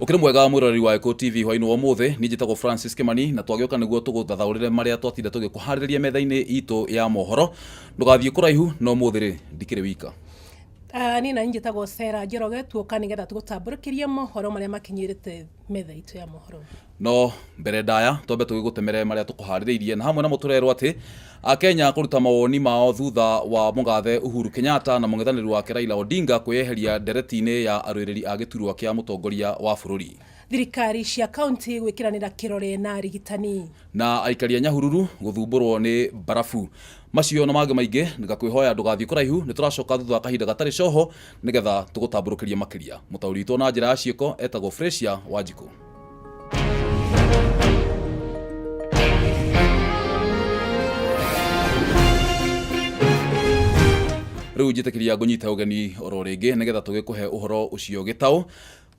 ukiri mwega mwiroreri wa Eko TV hwaini wa muthe ni njitagwo Francis Kimani na twagioka niguo tuguthathaurire maria twatinde tugikuhariria metha-ini itu ya mohoro ndugathie kuraihu no muthi ri ndikiri wika Ah, niĩ nani njĩtagwo Sarah Njoroge tuoka nĩgetha tũgũtambũrũkĩrie mohoro marĩa makinyĩrĩte metha itũ ya mohoro no mbere ndaya twambe tũgĩgũtemere marĩa tũkũharĩrĩirie na hamwe namo tũrerwo atĩ akenya kũruta mawoni mao thutha wa mũgathe uhuru kenyatta na mũng'ethanĩri wake raila odinga kwĩyeheria ndereti-inĩ ya arũĩrĩri a gĩturwa kĩa mũtongoria wa bũrũri Thirikari cia kauntĩ gwĩkĩranĩra kĩrore na arigitani. Na aikari a Nyahururu gũthumbũrwo nĩ mbarabu. Macio na mangĩ maingĩ ngakwĩhoya ndũgathiĩ kũraihu, nĩ tũracoka thutha wa kahinda gatarĩ coho nĩgetha tũgũtambũrũkĩrie makĩria. Mũtaũri witũ na njĩra ya ciĩko etagwo Frasia Wanjikũ. Rĩu njĩtĩkĩria ngũnyite ũgeni oro rĩngĩ nĩgetha tũgĩkũhe ũhoro ũcio gĩtaũ.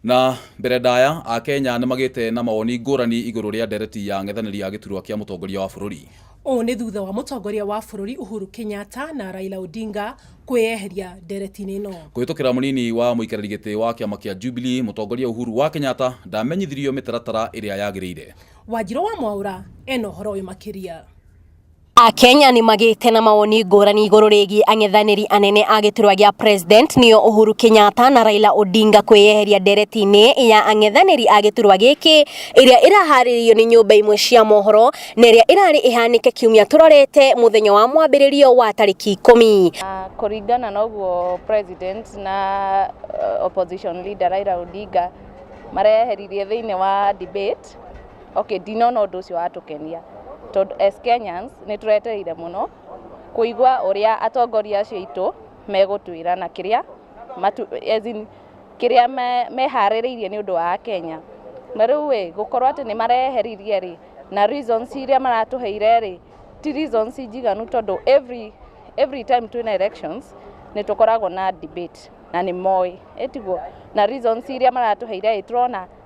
Na mbere ndaya, Akenya nĩ magĩte na mawoni ngũrani igũrũ rĩa ndereti ya ang'ethanĩri a gĩturwa kĩa mũtongoria wa bũrũri. Ũũ nĩ thutha wa mũtongoria wa bũrũri Uhuru Kenyatta na Raila Odinga kwĩyeheria ndereti-inĩ ĩno. Kũhĩtũkĩra mũnini wa mũikarĩri gĩtĩ wa kĩama kĩa Jubilee, mũtongoria Uhuru wa Kenyatta ndamenyithirio mĩtaratara ĩrĩa yagĩrĩire. Wanjirũ wa Mwaũra ena ũhoro ũyũ makĩria. Akenya nĩ magĩte na mawoni ngũrani igũrũ rĩgiĩ ang'ethanĩri anene a gĩturwa gĩa president nĩo Uhuru Kenyatta na Raila Odinga kwĩyeheria ndereti-inĩ ya ang'ethanĩri a gĩturwa gĩkĩ ĩrĩa ĩraharĩrĩirio nĩ nyũmba imwe cia mohoro na ĩrĩa ĩrarĩ ĩhanĩke kiumia tũrorete mũthenya wa mwambĩrĩrio wa tarĩki ikũmi. Na kũringana na ũguo president na uh, opposition leader Raila Odinga mareyeheririe thĩinĩ wa debate Okay, ndinona ũndũ ũcio watũkenia tondũ as Kenyans nĩ tũretereire mũno kũigua ũrĩa atongoria acio aitũ megũtwĩra na kĩrĩa matu, as in, kĩrĩa me, meharĩrĩirie nĩ ũndũ wa Akenya na rĩu ĩ gũkorwo atĩ nĩ mareheririe rĩ na reasons iria maratũheire rĩ ti reasons njiganu tondũ every, every time twĩna elections nĩ tũkoragwo na debate na nĩ moĩ ĩtiguo na reasons iria maratũheire ĩ tũrona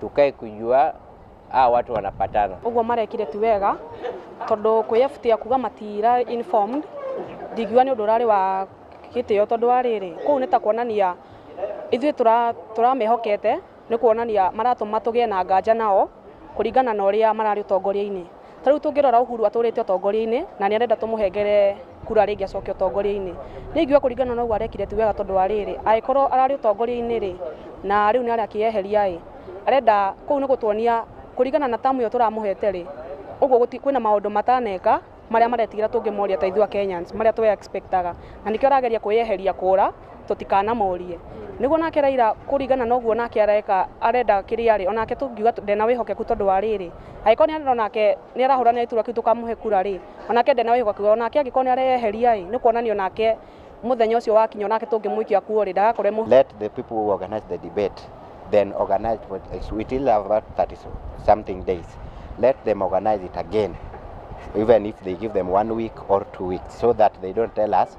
tukae kujua hawa watu wanapatana. Ũguo marekire ti wega tondũ kwĩyebutia kuga matira informed ndingiuga nĩ ũndũ ũrarĩ wa gĩtĩo tondũ wa rĩrĩ kũu nĩ ta kuonania ithuĩ tũra- tũramehokete nĩ kuonania maratũma tũgĩe na nganja nao kũringana na ũrĩa mararĩ ũtongoria-inĩ. ta rĩu tũngĩrora Uhuru atũrĩte ũtongoria-inĩ na nĩ arenda tũmũhengere kura rĩngĩ acoke ũtongoria-inĩ nĩ ingiuga kũringana na ũguo arekire ti wega tondũ wa rĩrĩ angĩkorwo ararĩ ũtongoria-inĩ rĩ na rĩu nĩ arakĩyeheria ĩ arenda kũu nĩ gũtuonia kũringana na tamu ĩyo tũramũhete rĩ ũguo gũti- kwĩna maũndũ mataneka marĩa maretigĩra tũngĩmoria ta ithuĩ a Kenyans marĩa twe expectaga na nĩkĩo arageria kwĩyeheria kũra tũtikanamorie nĩguo nake Raila kũringana na ũguo nake areka arenda kĩrĩa rĩ onake tũngiuga ndena wĩhokeku tondũ wa rĩrĩ angĩkorwo nĩ arenda onake nĩ arahũranĩra itura kĩu tũkamũhe kura rĩ onake ndena wĩhokeku onake angĩkorwo nĩ areyeheria ĩ nĩ kuonania onake mũthenya ũcio wakinya onake tũngĩmũikia kuo rĩ ndagakorwo e mũhũ- Let the people who organize the debate then organize for it. We still have about 30 so- something days. Let them organize it again, even if they give them one week or two weeks, so that they don't tell us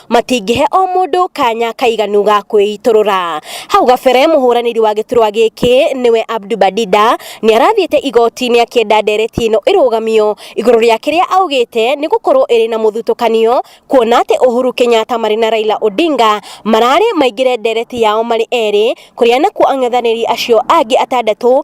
matingĩhe o mũndũ kanya kaiganu ga kwĩitũrũra. Hau gabere mũhũranĩri wa gĩturwa gĩkĩ nĩwe Abdu Badida nĩ arathiĩte igoti-inĩ akĩenda ndereti ĩno ĩrũgamio igũrũ rĩa kĩrĩa augĩte nĩ gũkorwo ĩrĩ na mũthutũkanio kuona atĩ Uhuru Kenyatta marĩ na Raila Odinga mararĩ maingĩre ndereti yao marĩ erĩ kũrĩa nakuo ang'ethanĩri acio angĩ atandatũ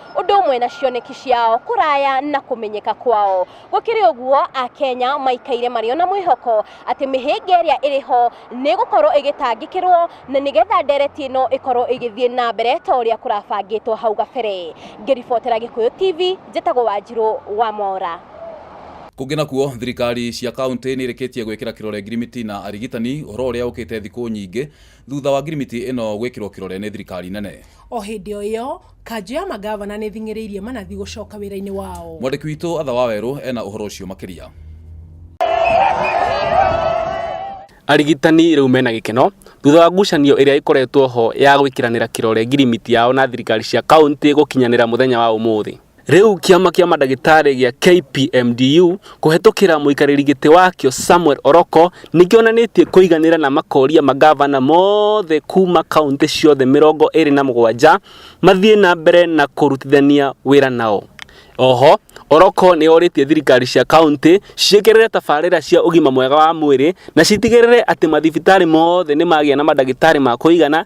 ũndũ ũmwe na cioneki ciao kũraya na kũmenyeka kwao. Gũkĩrĩ ũguo, Akenya maikaire marĩ o na mwĩhoko atĩ mĩhĩnga ĩrĩa ĩrĩ ho nĩ ĩgũkorũo ĩgĩtangĩkĩrũo na nĩgetha ndeereti ĩno ĩkorũo ĩgĩthiĩ na mbere ta ũrĩa kũrabangĩtwo hau gabere. Ngĩribotera Gĩkũyũ TV, njĩtagwo Wanjirũ Wamora. Kũngĩ nakuo, thirikari cia kauntĩ nĩ irĩkĩtie gwĩkĩra kĩrore ngirimiti na arigitani, ũhoro ũrĩa ũkĩte thikũ nyingĩ thutha wa ngirimiti ĩno gwĩkĩrwo kĩrore nĩ thirikari nene. O hĩndĩ o ĩyo, kanjũ ya mangavana nĩthing'ĩrĩirie manathi gũcoka wĩra-inĩ wao. Mwandĩki witũ Atha Wawerũ ena ũhoro ũcio makĩria. Arigitani rĩu mena gĩkeno thutha wa ngucanio ĩrĩa ĩkoretwo ho ya gwĩkĩranĩra kĩrore ngirimiti yao na thirikari cia kauntĩ gũkinyanĩra mũthenya wa ũmũthĩ. Rĩu kĩama kĩa mandagĩtarĩ gĩa KPMDU kũhetũkĩra mũikarĩri gĩtĩ wakĩo Samuel Oroko nĩkĩonanĩtie kũiganĩra na makoria magavana mothe kuma kauntĩ ciothe mĩrongo ĩrĩ na mũgwanja mathiĩ na mbere na kũrutithania wĩra nao. Oho, Oroko nĩorĩtie thirikari cia kauntĩ ciĩkĩrĩre tabarĩra cia ũgima mwega wa mwĩrĩ na citigĩrĩre atĩ mathibitarĩ mothe nĩmagĩa na mandagĩtarĩ ma kũigana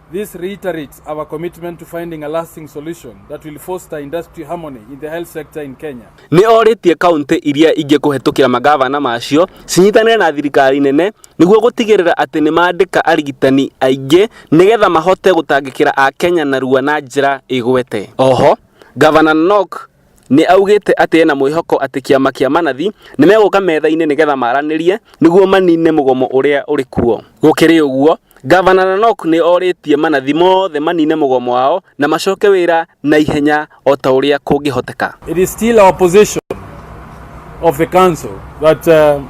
This reiterates our commitment to finding a lasting solution that will foster industry harmony in the health sector in Kenya. Nĩ orĩtie kaunti iria ingĩ kũhetũkĩra magavana macio cinyitanĩre na thirikari nene nĩguo gũtigĩrĩra atĩ nĩ mandĩka arigitani aingĩ nĩgetha mahote gũtangĩkĩra Akenya narua na njĩra ĩgwete. Oho, Gavana Nok Nĩ augĩte atĩ ena mwĩhoko atĩ kĩama kĩa manathi nĩ megũka metha-inĩ nĩgetha maranĩrie nĩguo manine mũgomo ũrĩa ũrĩ kuo. Gũkĩrĩ ũguo, Gavana Nanok nĩ orĩtie manathi mothe manine mũgomo wao na macoke wĩra na ihenya o ta ũrĩa kũngĩhoteka. It is still our position of the council that uh,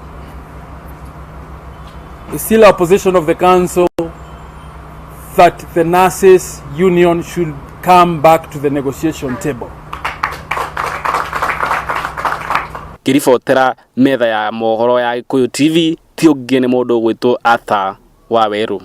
it's still our position of the council that the nurses union should come back to the negotiation table. ngĩribotera metha ya mohoro ya gĩkũyũ tv ti ũngĩ nĩ mũndũ ũgwĩtwo atha wa werũ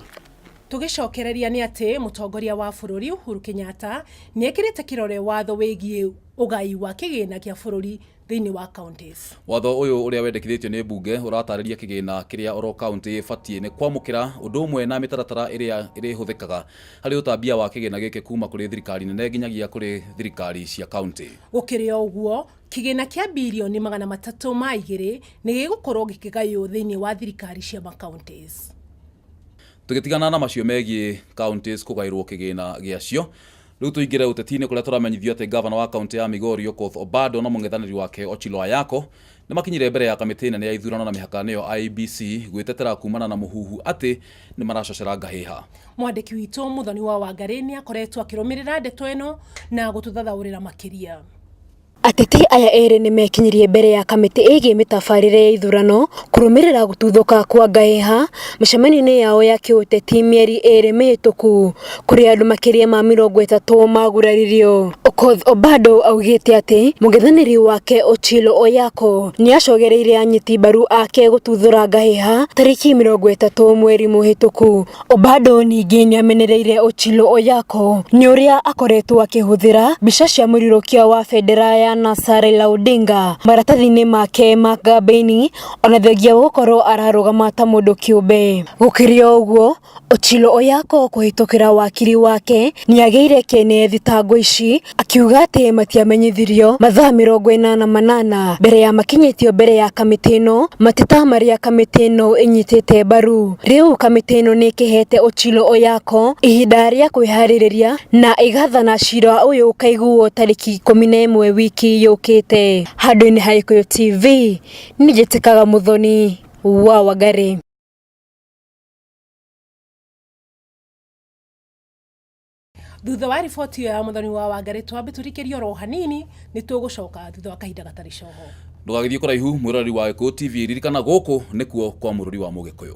tũgĩcokereria nĩ atĩ mũtongoria wa bũrũri Uhuru Kenyatta nĩekĩrĩte kĩrore watho wĩgiĩ ũgai wa kĩgĩna kĩa bũrũri thĩinĩ wa counties. Watho ũyũ ũrĩa wendekithĩtio nĩ mbunge ũratarĩria kĩgĩna kĩrĩa oro kaunti ĩbatiĩ nĩ kwamũkĩra ũndũ ũmwe na mĩtaratara ĩrĩa ĩrĩhũthĩkaga harĩ ũtambia wa kĩgĩna gĩkĩ kuma kũrĩ thirikari nene nginyagia kũrĩ thirikari cia kaunti. Gũkĩrĩ o ũguo, kĩgĩna kĩa birioni magana matatũ ma igĩrĩ nĩ gĩgũkorwo gĩkĩgaywo thĩinĩ wa thirikari cia ma counties. Tũgĩtigana na macio megiĩ counties kũgaĩrwo kĩgĩna gĩacio, Rĩu tũingĩre ũteti-inĩ kũrĩa tũramenyithio atĩ ngavana wa kaunti ya Migori Okoth Obado na mũng'ethanĩri wake Ochilo Ayako nĩ makinyire mbere ya kamĩtĩ nene ya ithurano na mĩhaka nĩyo IEBC gwĩtetera kumana na mũhuhu atĩ nĩ maracocera ngahĩha. Mwandĩki witũ Muthoni wa Wangarĩ nĩ akoretwo akĩrũmĩrĩra ndeto ĩno na gũtũthathaũrĩra makĩria. Ateti aya erĩ nĩmekinyirie mbere ya kamĩtĩ ĩgiĩ mĩtabarĩre ya ithurano kũrũmĩrĩra gũtuthũka kwa ngahĩha mĩcemanio-inĩ yao ya kĩũteti mĩeri ĩrĩ mĩhĩtũku kũrĩa andũ makĩria ma mĩrongo ĩtatũ maguraririo. Okoth Obado augĩte atĩ mũng'ethanĩri wake Ochilo Oyako nĩacogereire anyiti mbaru ake gũtuthũra ngahĩha tarĩki mĩrongo ĩtatũ mweri mũhĩtũku. Obado ningĩ nĩ amenereire Ochilo Oyako nĩ ũrĩa akoretwo akĩhũthĩra mbica cia mũrirũkia wa bendera ya NASA Raila Odinga maratathi-inĩ make ma kambĩini ona thengia wa gũkorwo ararũgama ta mũndũ kĩũmbe. Gũkĩrĩ o ũguo, Ochilo Oyako kũhĩtũkĩra wakiri wake nĩ agĩire kĩene thitango ici akiuga atĩ matiamenyithirio mathaa mĩrongo ĩnana manana mbere ya makinyĩtio mbere ya kamĩtĩ ĩno mateta marĩa kamĩtĩ ĩno ĩnyitĩte mbaru. Rĩu kamĩtĩ ĩno nĩ ĩkĩhete Ochilo Oyako ihinda rĩa kwĩharĩrĩria na ĩgathana cira ũyũ ũkaiguo tarĩki ikũmi na ĩmwe wiki yũkĩte. Handũ-inĩ ha Gĩkũyũ TV, nĩ njĩtĩkaga Mũthoni wa Wangari. thutha wa riboti ĩyo ya mũthoni wa wangarĩ twambe tũrikĩrie oro hanini nĩ tũgũcoka thutha wa kahinda gatarĩ coho ndũgagĩthiĩ kũraihu mwĩroreri wa gĩkũyũ tv ririkana gũkũ nĩkuo kwa mũrũri wa mũgĩkũyũ